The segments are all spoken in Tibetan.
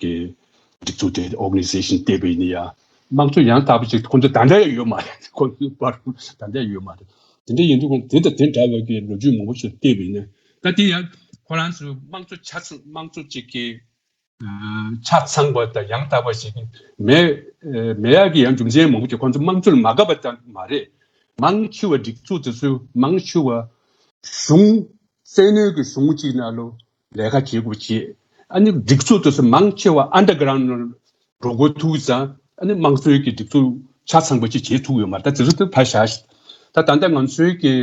གི་སྒྲིག་འཛུགས་དེ Organization ལྟེ་བའི་ནི་ཡང་དམངས་གཙོ་ཡང་དག་པ་ཞིག་ཁོང་ཚོ་ད་འདྲ་ཡོད་མ་རེད་ཁོང་ཚོ་པར་ད་འདྲ་ཡོད་མ་རེད་དེ་འདྲ་ཡིན་དུས་ཁོང་དེ་དང་དེ་འདྲ་བ་གི་ལོ་རྒྱུས་མང་པོ་ཞིག་ལྟེ་བའི་ནི་ད་དེ་ཡང་ཁོ་རང་ཚོ་དམངས་གཙོ་ཆ་ཚང་དམངས་གཙོ་ཅིག་གི་ཆ་ཚང་བ་དང་ཡང་དག་པ་ཞིག་མེད་མེད་ཡག་གི་ཡང་རྒྱུ་མཚན་མང་པོ་ཞིག་ཁོང་ཚོ་དམངས་གཙོ་ལ་མ་དགའ་བ་ཙམ་མ་རེད་དམངས་ཆོས་བ་སྒྲིག་འཛུགས་དེ་ཚོས་དམངས་ཆོས་བ་གཞུང་བཙན་གནོད་ཀྱི་གཞུང་ཅིག་ན་ལོ་ལས་ཀ་བྱེད་དགོས་བྱས། ཨ་ནི་སྒྲིག་གཙོ་དུ་སུ་མང་ཆེ་བ Underground ནང་འགྲོ་དགོས་ཐུག་ཙང་ཨ་ནི་དམངས་གཙོའི་གི་སྒྲིག་གཙོ་ཆ་ཚང་པ་ཅིག་བྱེད་ཐུག་ཡོད་མ་ད་དེ་རུ་ཏུ་ཕ་ཞག་ཤི་ད་ད་ནྡེ་ང་ཚོའི་གི་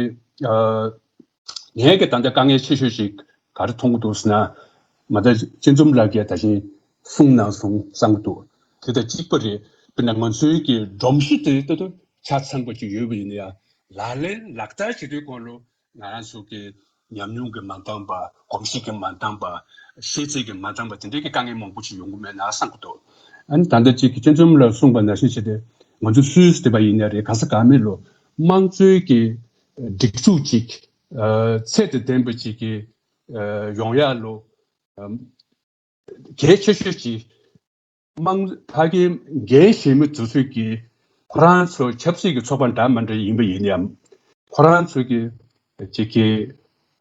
ངའི་གི་ད་ནྡེ་དཀའ་ངལ་ཆེ་ཤོས་ཤིག་ག་རུ་མཐོང་གི་འདུག་སུ་ན་མ་ད་སྤྱི་འཛོམས་ལགས་ཀྱི་ད་བཞིན་གསུངས་ནང་སུང་བསམ་གི་འདུག་དེ་ད་གཅིག་པ་རེད་དཔེར་ན་ང་ཚོའི་གི་སྒྲོམ་གཞི་དེ་ད་དུ་ཆ་ཚང་པ་ཅིག་ཡོད་པ་ཡིན་ན་ཡང་ལག་ལེན་ལག་བསྟར་བྱེད་དུས་སྐོར་ལོ་ང་རང་ཚོ་གི་ཉམས་མྱོང་གི་མ་འདང་པ། གོམས་གཤིས་ཀྱི་མ་འདང་པ། ཤེས་ཚད་ཀྱི་མ་འདང་པ་དེ་འདྲའི་གི་དཀའ་ངལ་མང་པོ་ཅིག་ཡོང་གི་མེད་ན་བསམ་གི་འདུག་ཨ་ནི་ད་ལྟ་ཅིག་གི་སྤྱི་འཛོམས་ལ་གསུངས་པ་ནང་བཞིན་བྱས་ཏེ། ང་ཚོ་སུའི་སྡེ་བ་ཡིན་ན་རེད་གང་ས་གང་མིན་ལོ། དམངས་གཙོའི་གི་སྒྲིག་འཛུགས་ཅིག་ཚད་དང་ལྡན་པ་ཅིག་གི་ཡོང་ཡག་ལོ། གལ་ཆེ་ཤོས་ཅིག་དམངས་གཙོ་ཕ་གི་འགན་བཞེས་མི་ཚོ་ཚོས་ཀྱི། ཁོ་རང་ཚོ་ཆབ་སྲིད་ཀྱི་ཚོགས་པ་འདྲ་མ་འདྲ་ཡིན་པ་ཡིན་ཡང། ཁོ་རང་ཚོས་ཀྱི་བྱེད་ཀྱི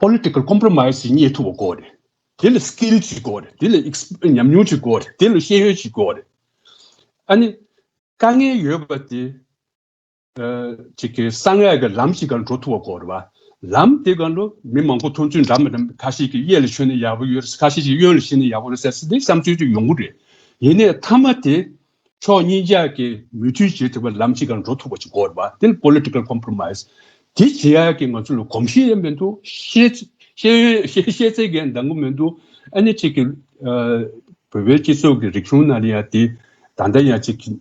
Political Compromise རྙེད་ཐུབ་པ་དགོས་རེད། དེ་ལ Skill གཅིག་དགོས་རེད། དེ་ལ་ཉམས་མྱོང་གཅིག་དགོས་རེད། དེ་ལ་ཤེས་ཡོན་གཅིག་དགོས་རེད། ཨ་ནི། དཀའ་ངལ་ཡོད་པ་དེ། ཅིག་གིས་གསང་སྔགས་ཀྱི་ལམ་ཞིག་གང་འགྲོ་ཐུབ་བ་གོ། ལམ་དེ་གང་འགྲོ་མི་མང་པོ་ཐོང་ཚུལ་འདྲ་མི་འདྲ་ཁ་ཤས་ཀྱིས་གཡས་ལ་ཆོད་ན་ཡག་པོ་ཡོད་ཁ་ཤས་ཀྱིས་གཡོན་ལ་ཕྱིན་ན་ཡག་པོ་རེད་ཟེར་འདི་བསམ་ཚུལ་གཅིག་ཡོང་གི་རེད། ཡིན་ནས་མཐའ་མ་དེ་ཕྱོགས་གཉིས་ཀྱག་གིས་མོས་མཐུན་བྱེད་ཐུབ་པའི་ལམ་ཞིག་གང་འགྲོ་ཐུབ་བ་ཅིག་གོ། དེ་ནི Political Compromise དེ་བྱེད་ཡག་གི་ང་ཚོ་ལ་གོམས་གཤིས་ཡང་མི་འདུག་ཤེས་ཚད་ཀྱང་འདང་གི་མི་འདུག་ཨ་ནི་ཅིག་གིས་བོད་པའི་སྤྱི་ཚོགས་ཀྱི་རིག་གཞུང་ནང་ལ་ཡང་དེ་ད་ལྟ་ཡང་ཅིག་གིས།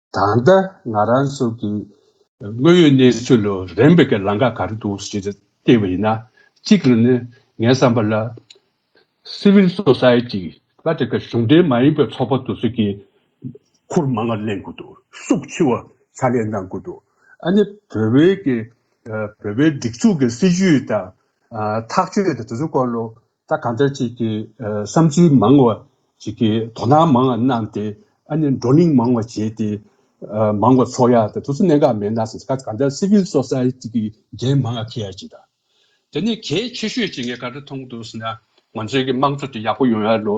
ད་ལྟ་ང་རང་ཚོ་གི་དངོས་ཡོད་གནས་ཚུལ་ལ་རན་པའི་གི་ལང་ཀ་ག་རེ་འདུག་ཞེས་བལྟས་པ་ཡིན་ན། གཅིག་རེ་ནི་ངའི་བསམ་པ་ལ། Civil Society། ལ་དེ་ག་གཞུང་འབྲེལ་མ་ཡིན་པའི་ཚོགས་པ་དུ་ཚོད་ཀྱིས། འཁོར་མང་ངར་གླེང་དགོས་འདུག་སུག་འཆི་བ་ཚ་ལེན་གནང་དགོས་འདུག་ཨ་ནི་བོད་བའི་གི། བོད་པའི་སྒྲིག་འཛུགས་ཀྱི་སྲིད་བྱུས་དང། ཐག་གཅོད་དང་དུ་ཚོད་སྐོར་ལ་ད་གང་ལྟར་ཅིག་གི་བསམ་ཚུལ་མང་བ་ཅིག་གི་དོ་སྣང་མང་བ་གནང་སྟེ་ཨ་ནི་བགྲོ་གླེང་མང་བ་བྱས་ཏེ། མང་བ་ཚོགས་ཡག་དང་དུས་ཚོད་གནད་འགག་མེད་ན་སོང་ད་གང་ལྟར Civil Society གི་འགན་མང་བ་འཁུར་ཡག་ཅིག་དང། དེ་ནས་གལ་ཆེ་ཤོས་ཅིག་ངས་ག་རེ་མཐོང་འདུག་ཟེར་ན། ང་ཚོའི་གི་དམངས་གཙོ་དེ་ཡག་པོ་ཡོང་ཡག་ལོ།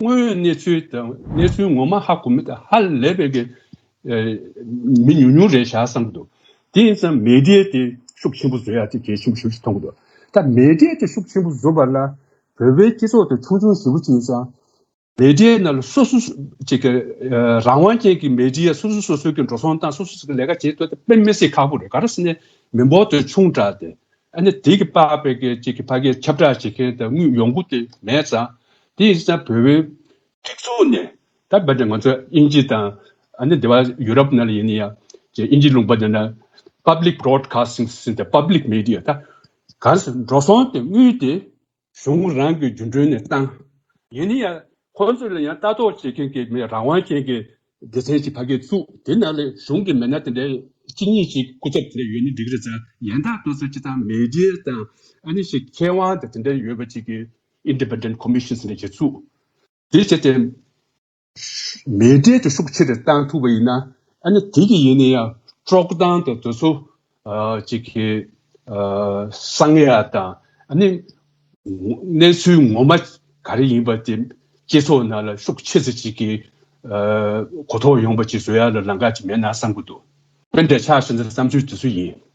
དངོས་ཡོད་གནས་ཚུལ་དང་གནས་ཚུལ་ངོ་མ་ཧ་གོ་མི་དང་ཧ་ལས་པའི་གི་མི་ཉུང་ཉུང་རེད་བཞག་བསམ་འདུག་དེ་ཡིན་ཙང་མེས་རྒྱལ་དེ་ཤུགས་ཆེན་པོ་བཟོ་ཡག་དེ་གལ་ཆེན་པོ་ཞིག་མཐོང་འདུག་ད་མེས་རྒྱལ་དེ་ཤུགས་ཆེན་པོ་བཟོ་བ་ལ་བོད་པའི་སྤྱི་ཚོགས་དེ་ཆུང་ཆུང་ཞིག་པོ་ཅིག་ཡིན་ཙང་མེས་རྒྱལ་ནང་ལ་སོ་སོ་ཅིག་གི་རང་དབང་ཅན་གི་མེས་རྒྱལ་སོ་སོ་སོ་སོའི་གི་འགྲོ་སོང་སྟངས་སོ་སོ་ཅིག་གི་ལས་ཀ་བྱེད་ཐུབ་དཔེ་མི་སྲིད་ཁག་པོ་རེད་ག་རེ་བསམ་ནས་མི་འབོར་དེ་ཆུང་དྲག་སྟེ་ཨ་ནི་དེ་གི་པགས་པའི་གི་ཅིག་གི་ཕ་གི་ཁྱབ་བསྒྲགས་བྱེད་མཁན་དེ་དངུལ་ཡོང་སྒོ་དེ་མེད་ཙང་དེའི་ས་བོད་བོད། སྒྲིག་འཛུགས་ནས་ད་བར་དུ་ང་ཚོ་དབྱིན་ཇི་དང། ཨ་ནི་འདི་བ་ཡུ་རོབ་ན་ལ་ཡིན་ཡང། དབྱིན་ཇི་ལུང་པ་འདི་ན། Public Broadcasting System Public Media ད། གང་སུ་འགྲོ་སོང་དེ་དངུལ་དེ། གཞུང་རང་གི་རྒྱུ་འབྲུལ་ནས་བཏང། ཡིན་ཡང། ཁོང་ཚོ་ལ་ཡང་ལྟ་རྟོག་བྱེད་མཁན་གྱི་མི་རང་དབང་ཅན་གྱི། སྡེ་ཚན་ཞིག་ཕ་གིའི་བཙུགས་དེ་ན་ལ་གཞུང་གི་མི་སྣ་དེ་འདྲའི་གཅིག་གཉིས་ཞིག་སྐུ་ཚབ་དེ་འདྲ་ཡོད་ན་འགྲིག་རེད་ས། ཡན་དག་དུ་སུ་ཅི་ཐང་མེ་ལྡེའི་དང། ཨ་ནི་ཞིག་མཁས་དབང་དེ་དེ་འདྲ་ཡོད་པ་ཅིག་གིས། Independent Commission། ཟེར་ནས་བྱེད་ཚུལ་དེ་བྱས་ཏེ། མེས་རྒྱལ་གྱི་ཤུགས་ཆེ་རུ་བཏང་ཐུབ་པ་ཡིན་ན། ཨ་ནི་དེ་གི་ཡིན་ན་ཡང་དཀྲོག་གཏམ་དང་དེ་ཚོ་གཅིག་གི་གསང་ཡ་དང་ཨ་ནི་གནས་ཚུལ་ངོ་མ་ག་རེ་ཡིན་པ་དེ་སྤྱི་ཚོགས་ནང་ལ་ཤུགས་ཆེ་ཚུལ་གཅིག་གི་གོ་རྟོགས་ཡོང་པ་གཅིག་བཟོ་ཡ་ལ་ལང་ཀ་གཅིག་མེད་ན་བསམ་གི་འདུག་དཔེ་འདྲ་ཆགས་ཟིན་ཚེ་བསམ་ཚུལ་དེ་ཚོ་ཡིན།